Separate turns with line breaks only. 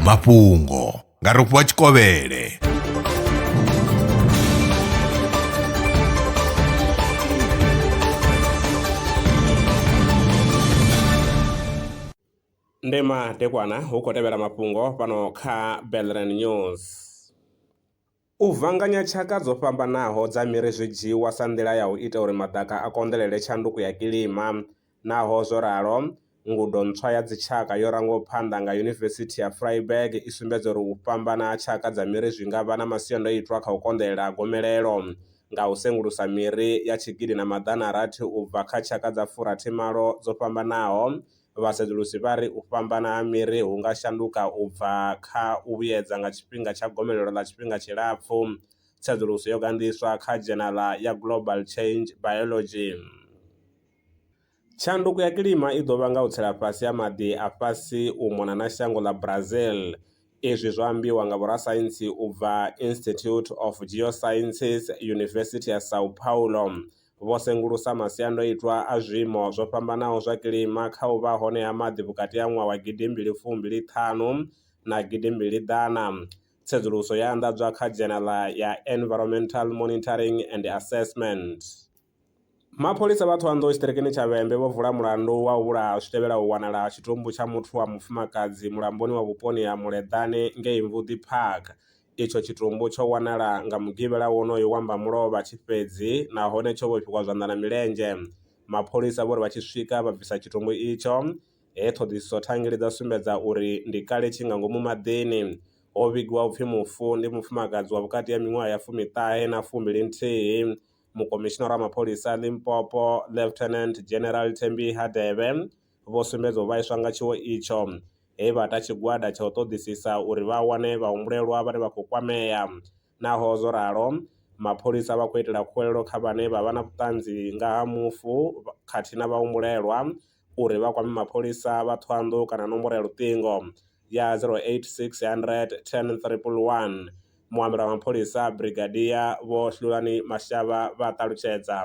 mafhungo nga rofhiwa tshikovhele ndi madekwana hu khou tevhela mafhungo fhano kha belren news U vhanganya tshaka dzo fhambanaho dza miri zwi dzhiiwa sa nḓila ya u ita uri maḓaka a konḓelele tshanduko ya kilima. Naho zwo ralo, ngudo ntswa ya dzitshaka yo rangwaho phanḓa nga Yunivesithi ya Freiburg i sumbedza uri u fhambana ha tshaka dza miri zwi nga vha na masiandoitwa kha u konḓelela ha gomelelo nga u sengulusa miri ya tshigidi na maḓana a rathi u bva kha tshaka dza furathi malo dzo fhambanaho Vhasedzulusi vha ri u fhambana ha miri hu nga shanduka u bva kha u vhuyedza nga tshifhinga tsha gomelelo ḽa tshifhinga tshilapfu. Tsedzuluso yo ganḓiswa kha dzhenaḽa ya Global Change Biology. Tshanduko ya kilima i ḓo vhanga u tsela fhasi ha maḓi a fhasi u mona na shango ḽa Brazil. Izwi zwo ambiwa nga vhorasaintsi u bva Institute of Geosciences, Yunivesithi ya São Paulo. vho sengulusa masiandoitwa a zwiimo zwo fhambanaho zwa kilima kha u vha hone ha maḓi vhukati ha ṅwaha wa gidimbili fumbili ṱhanu na gidimbili ḓana. Tsedzuluso yo anḓadzwa kha dzhenala ya Environmental Monitoring and Assessment. Mapholisa vha Thohoyandou tshiṱirikini tsha Vhembe vho vula mulandu wa u vhulaha zwi tevhelaho u wanala ha tshitumbu tsha muthu wa mufumakadzi mulamboni wa vhuponi ha Muleḓane ngei Mvudi Park Itsho tshitumbu tsho wanala nga mugivhela wonoyo wa mbamulovha tshi fhedzi nahone tsho vhofhiwa zwanḓa na milenzhe. Mapholisa vho ri vha tshi swika vha bvisa tshitumbu itsho, he ṱhoḓisiso thangeli dza sumbedza uri ndi kale tshi nga ngomu maḓini. Ho vhigiwa u pfi mufu ndi mufumakadzi wa vhukati ha miṅwaha ya fumiṱahe na fumbili nthihi. Mukomishinara wa mapholisa a Limpopo, Lieutenant General Thembi Hadebe, vho sumbedza u vhaiswa nga tshiwo itsho, he vha ta tshigwada tsha u ṱoḓisisa uri vha wane vhahumbulelwa vhane vha khou kwamea. Naho zwo ralo, mapholisa vha khou itela khuwelelo kha vhane vha vha na vhuṱanzi nga ha mufu khathihi na vhahumbulelwa uri vha kwame mapholisa vha Thohoyandou kana nomboro ya luṱingo ya 0860 10111. Muambeli wa mapholisa, Brigadier Vho Hlulani Mashaba vha ṱalutshedza.